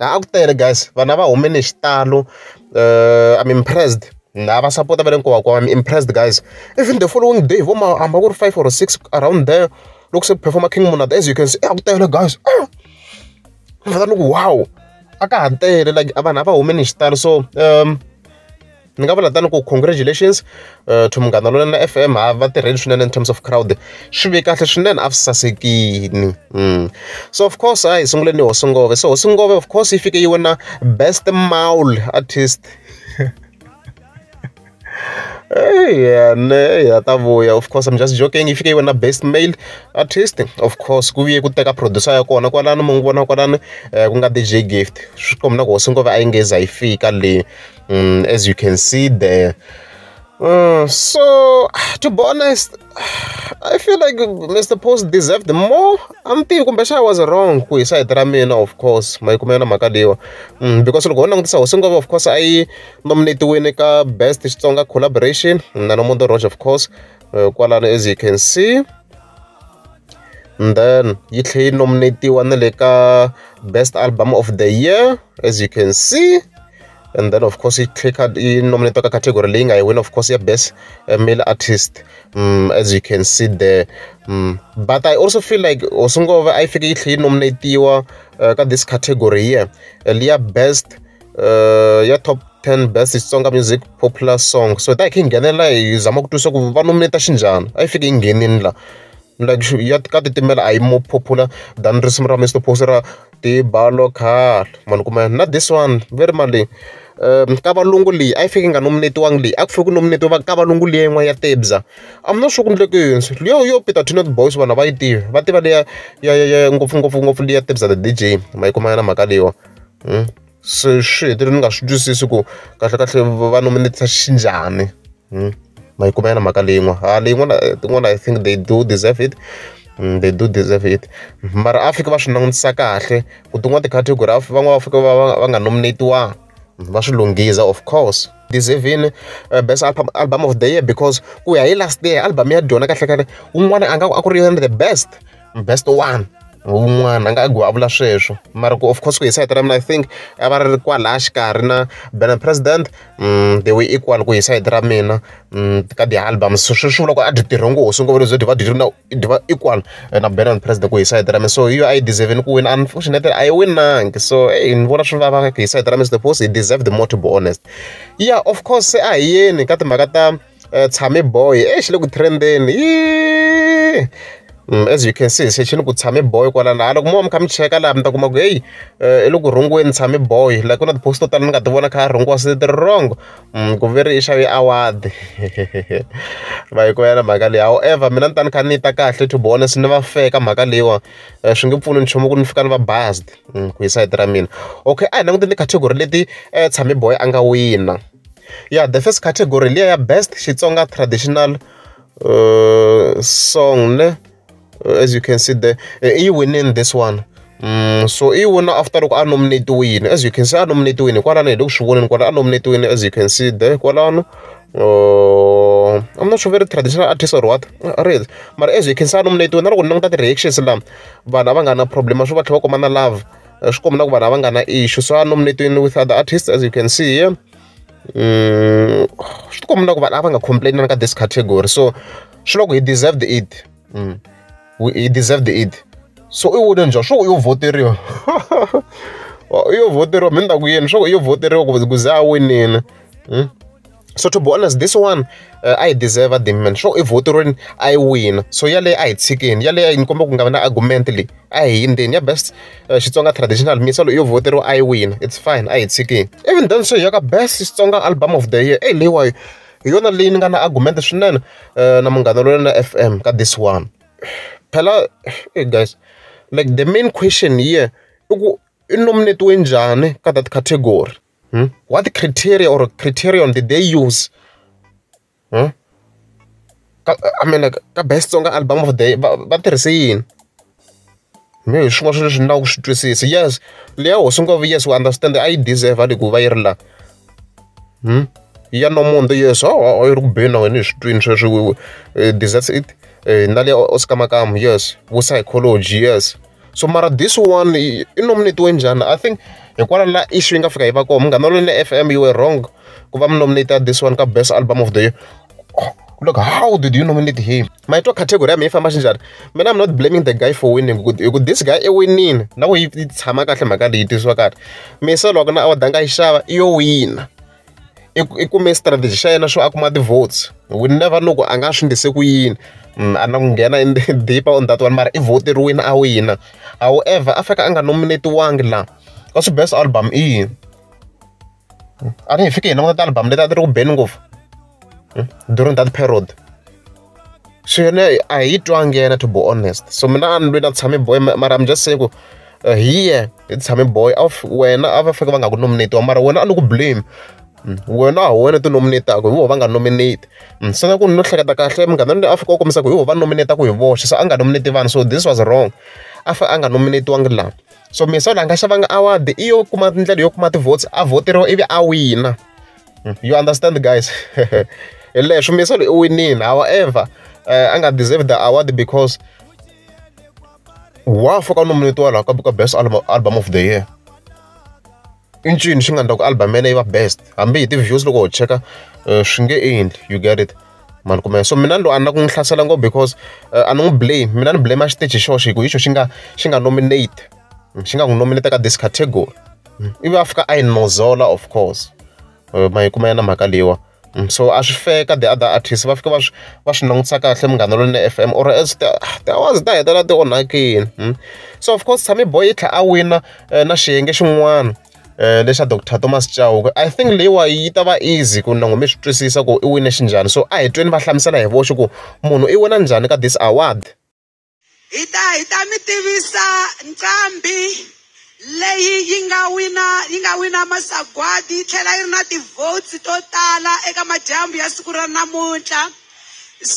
A ku tele guys vanhu a va humile hi xitalo I am impressed lava va sapota va le nkoka wa I am impressed guys even the following day hi vo ma hambi ku ri five or six around there loko se ku perform-a King Monada as you can see a ku tele guys ni ku wow a ka ha tele like vanhu a va humile hi xitalo so . ni nga vula tani ku congratulations to Munghana Lonene F_M ha va tirheli swinene in terms of crowd swi ve kahle swinene a swi sasekini mm. so of course a hi sunguleni hosi ngove so hosi ngove of course yi fike yi wina best maul artist yeah, ne ya ta vuya of course i'm just joking if you wena best male artist of course ku viye ku teka producer ya kona kwalano mu n'wi vona kwalano eh, ku nga dj gift swi kombi na ku hosi ngova a yi ngeza yi fika le Mm, as you can see there. Uh, so, to be honest, I feel like Mr. Post deserved more. I'm thinking kumbexana I was wrong ku hi side ra mina of course mayikumela na mhaka leyiwa mm, because loko ho langutisa hosi ngova of course a yi nominatiwile ka best xitsonga collaboration na nomondo roge of course uh, kwalano as you can see and then yi tlhe yi nominatiwa na le ka best album of the year as you can see and then of course yi clicker yi nominate ka category leyi nga yi win of course ya best uh, male artist um, as you can see there um, but i also feel like osungova a yi fike yi tlhe yi nominatiwa uh, ka this category here uh, liya best uh, ya top 10 best xitsonga music popular song so ta hi khe yi nghenela hi zama ku twisa ku va nominate xinjhani a yi fike yi nghenini la like ya ka titimela a yi more popular than risimu ra mr posi ra ti-bolo car ma ni kuma na this one va ri malini ka valungu leyi a yi fike yi nga nominate-iwangi leyi a ku fanele ku nominate-iwa ka valungu liya yin'wana ya tebza I'm not sure ku endleke yini liya yo Peter Tin and the Boys vanhu a va yi tivi va tiva liya ya ya ya ngopfungopfu ngopfu liya tebza the D_J ma yi kuma yona mhaka leyiwani . swi swi hetelela ni nga swi twisisi ku kahlekahle va nominate xinjhani hmm? ma yi kuma yana mhaka leyin'wana ha leyin'wana tin'wana i think they do deserve it Mm, they do deserve it mara a fike va swi langutisa kahle ku tin'wana ticategory van'wana va fike va va nga nominatiwanga mm, va swi lunghiza of course deservini uh, best album, album of the year because ku ya hi last year album ya dyona kahlekahle un'wana a nga a ku ri yona the best best one wun'wana a nga a vula sweswo mara ku of course ku hi sayiti ra mina i think a va ri kwalaya xikarhi na bena president mm, they were equal ku hi sayiti ra mina mm, ka ti-album so sweswi vula ku a dyi tirhe ngopfu sungova lezo dyi va dyi ri na dyi va equal eh, na bena president ku hi sayiti ra mina so hi yo a yi deserve-ni ku wina unfortunately a yi winangi so eyi ni vona swi vava hi sayiti ra mina suppose hi deserve the more to be honest yeah of course se a hi yeni ka timhaka ta Tshame boy exi le ku trend-eni as you can see se xi ni ku tshame boy kwala na hala loko mo va mi kha mi cheka laha mi ta kuma ku heyi i le ku rhungeni tshame boy like ku na ti-post to tala ni nga ti vona kha rhungiwa se ti ri wrong ku ve ri i xave award va yi ku yena mhaka leyi however mina ni ta ni kha ni yi ta kahle to be honest ni va fair ka mhaka leyiwa swi nge pfuni nchumu ku ni fika ni va based ku hi sayiti ra mina okay a hi languteni ti-category leti tshame boy a nga wina. Ya the first category hi liya ya best Xitsonga traditional uh, song ne uh, as you can see there eh, i yi winini this one Mm, so i wona after loko a nominatiwile as you can see a nominatiwile kwalano hi le ku swi voneni kwala a nominatiwile as you can see there kwalano uh, I'm not sure very traditional artist or what uh, real mara as you can see a nominatiwile na loko ni languta ti-reactions lama vanhu a va nga na problem swo va tlhela va kuma na love swi komba na ku vanhu a va nga na issue so a nominating with other artists as you can see here mm, swi ti komba na ku vanhu a va nga complain na ka this category so swi loko hi deserved it mm. hi deserved it so i wone njhani swo yo voteriwa yo voteriwa mi ni ta ku yini swo yo voteriwa ku ku za a winile hmm? so to be honest this one uh, i deserve the man sure if voterweni i win so yaleyo a hi tshikeni yaleyo ni komba ku nga va na argument leyi a hi yindzeni ya best uh, xitsonga traditional music yo voteriwa i win it's fine a hi tshikeni even then so ya ka best xitsonga album of the year eyi leyiwayo hi yona leyi ni nga na argument swinene uh, na munghana loyi na fm ka this one phela hey guys like the main question here i ku i nominate we njhani ka that category Hmm? What criteria or criterion did they use? Hmm? I mean, like, ka best song album of the va tirhise yini me hi swin'wana swi leswi ni lava ku swi twisisa yes leya hosi ngo vi yes we understand a yi deserve a ku va yi ri la hmm? ya nomundo yes a oh, oh, yi ri ku beni na wena hi swi twini sweswi eh, deserves it eh, na leya oscar makamu yes vo psychology yes so mara this one i nominate-we njhani i think hikwalaho la issue yi nga fika yi va kona munghana loyi na F_M you were wrong ku va mi nominate this one ka best album of the year look how did you nominate him my top category ya mina yi famba xinjhani mina i'm not blaming the guy for winning hi ku this guy i winile na ku yi tshama kahle mhaka leyi tisiwa kahle mise loko na award a nga yi xava i yo wina i i kume strategy xa yena swo a kuma ti-votes we never know ku a nga swi endlise ku yini mm, a na ku nghena in the deeper on that one mara i voteriwini a wina however a fika a nga nominatiwangi laha ka swi best album i yini a ni hi fike hi languta ti-album leti a ti ri ku beni ngopfu during that period so yena a hi twangi yena to be honest so mina a ni lwi na tshame boy mara i'm just saying ku uh, hiye hi tshame boy wena a va faneke va nga ku nominate wa mara wena a ni ku blame mm, wena a wena ti nominataka hi vo va nga nominate mm, se na ku ni no hleketa kahle munghana ni a fika u kombisa ku hi vo va nominataka hi voxe se a nga nominate vanhu so this was wrong a fa a nga nominatiwangi laha so misa la nga xavanga award i yo kuma ndlela yo kuma ti-votes a voteriwa ivi a wina hmm, you understand guys hi leswo misolo i winile however uh, a nga deserve the award because wa foka nominatiwa laha ka ka best album, album of the year i ncini xi nga endla ku album yena yi va best hambi hi ti-views loko ho cheka eh, swi nge endli you get it mani kumeka so mina lo a na ku n'wi hlasela ngopfu because eh, a ni n'wi blame mina ni blame a xiteji xoxo hi ku hi xo xi nga xi nga nominate xi nga n'wi nominate ka this category ivi a fika a yi nozola of course eh, ma yi kuma ya na mhaka leyiwa mm, so a swi feka the other artist va fika va swi va swi langutisa kahle munghana lweni f m or else tiawazi ta hetelela ti onhakile mm. so of course tshami boy yi tlhela a wina eh, na xiyenge xin'wana eh, lexa dr thomas chauke i think leyiwa yi ta va easy ku nango mi swi twisisa ku i wine xinjhani so a hi tweni va hlamusela hi voxe ku munhu i wina njhani ka this award hi ta hi ta mi tivisa nqambi leyi yi nga wina yi nga wina masagwadi yi tlhela yi ri na ti-votes to tala eka madyambu ya siku ra namuntlha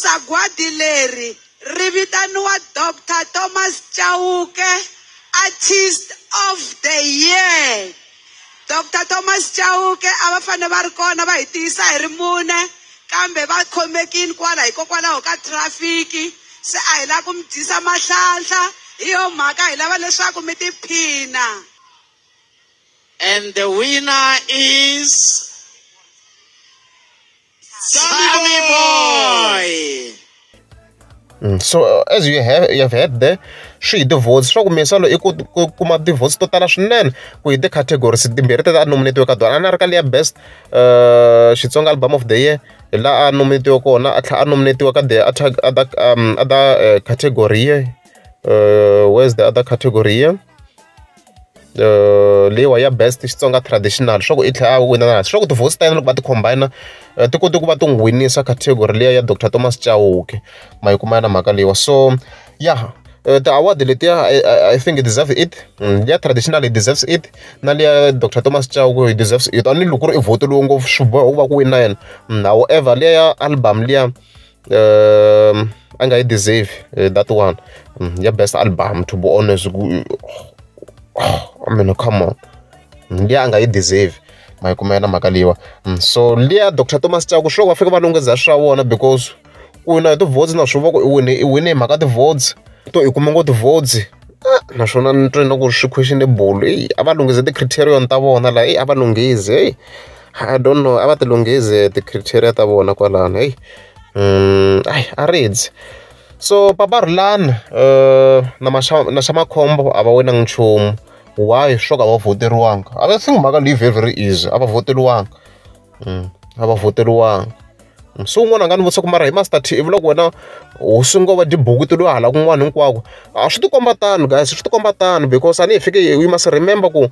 sagwadi leri ri vitaniwa dr thomas chauke artist of the year Dr Thomas Chauke a va fanele va ri kona va hi tiyisa hi ri mune kambe va khomekini kwala hikokwalaho ka trafiki se a hi lava ku mi dyisa mahlanhla hi yo mhaka hi lava leswaku mi tiphina and the winner is Sammy Boy. Mm, so uh, as you have, you have heard there swi hi tivotes swa ku minsalo i ku kuma tivotes to tala swinene ku hi ti-categories timbirhi teta a nominatiwe ka tona a na ri ka leya best uh, xitsonga album of the year hi laha a nominatiwe kona a tlhela a nominatiwe ka the other, other, um, other uh, category uh, where's the other category here leyiwa ya best xitsonga traditional swa ku i tlhela a wina na swa ku tivosi ta yena loko va ti combine eh, ti kote ku va ti n'wi winisa category leya ya dr thomas chauke ma yi kuma ya na mhaka leyiwa so ya yeah. Eh, ti-award letiya i think deserve it mm, liya traditional i deserves it na liya dr thomas chauke i deserves it a ni loko ku ri i vhoti lowu ngopfu swi boha ku va ku wina yena mm, however liya ya album liya um a nga yi deserve eh, that one mm, ya best album to be honest ku oh, I mean come on mm, liya a nga yi deserve ma yi kumela mhaka leyiwa mm, so liya dr thomas chaku sure va fika va lungheza swa vona because ku wina hi ti-votes na swi va ku i wine i wine hi mhaka ti-votes to i kume ngo ti-votes ah, naswona ni twe na ku swi questionable eyi a va lunghise ti-criterion ta vona laha eyi a va lunghise heyi I don't know a va ti lunghezi ti-criteria ta vona kwalano heyi a a rindzi so papa Rhulani na na xa makhombo a va winangi nchumu why swo ka a va vhoteriwanga a va think mhaka leyi very very easy a va vhoteriwanga a va vhoteriwanga se un'wana a nga ni vutisa ku mara hi Master T ivula ku wena hosi ngo va tibuku ti lo hala kun'wana hinkwako a swi tikomba tano guys swi tikomba tano because a ni hi fike hi we must remember ku .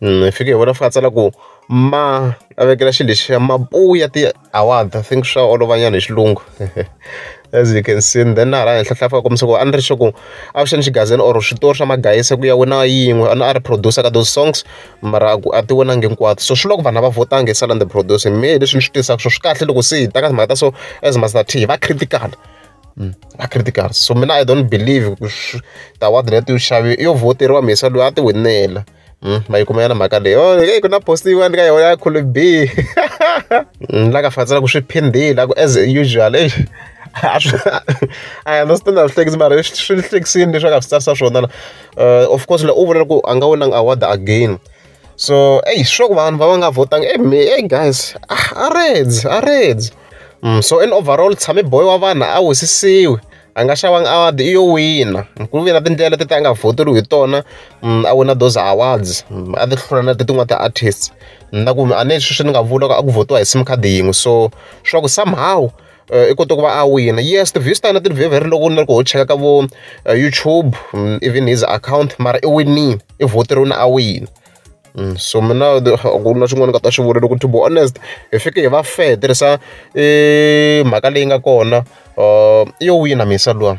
ni fike hi vona va tsala ku ma a vekela xilo lexiya mabuya ti-award I think swa olova nyana hi xilungu as you can see then na hala henhla tlhela a fika a kombisa ku a ni ri sure ku avuxeni xigazini or switori swa magayisa ku ya wina yin'we a a ri producer ka those songs mara a ku a ti winangi hinkwato so swi loko vanhu a va vhotanga hi sala ni ti producer mehe hi leswi ni swi tirhisaka swona swi kahle loko se hi ta ka timhaka ta so as Master T hi va critical. Mm. a critical so mina i don't believe ku ta ward leti yo xavi yo voteriwa mhisa loyi a ti winela mm, ma yi kuma yana mhaka leyi oh, e ku na post yin'wana ka yona ya khulu b mm, la ka fatsela ku swi phindile ku as usual e I understand that things mara swi hlekisini leswi a nga swi tsarisa swona la eh, of course la u vula ku a nga winanga award again so eyi sure ku vanhu va va nga votanga e me e guys a reds a reds So in overall tshame boy wa vanhu a wisisiwi a nga xavanga award i yo wina ku ve na tindlela leti a nga voteriwi hi tona a wina those awards a ti hlula na tin'wana ti-artists na ku a ni sweswi ni nga vula ku a ku votiwa hi sim card yin'we so swa ku somehow eh, i kota ku va a wina yes ti-views ta yena ti very very loko ni ri ku ho cheka ka vo eh, youtube even his account mara i winile i voteriwini a wina so mina ku na swin'wana ni nga ta swi vula loko to be honest hi fike hi va fair hi tirhisa mhaka leyi nga kona i yo wina mhisa luwa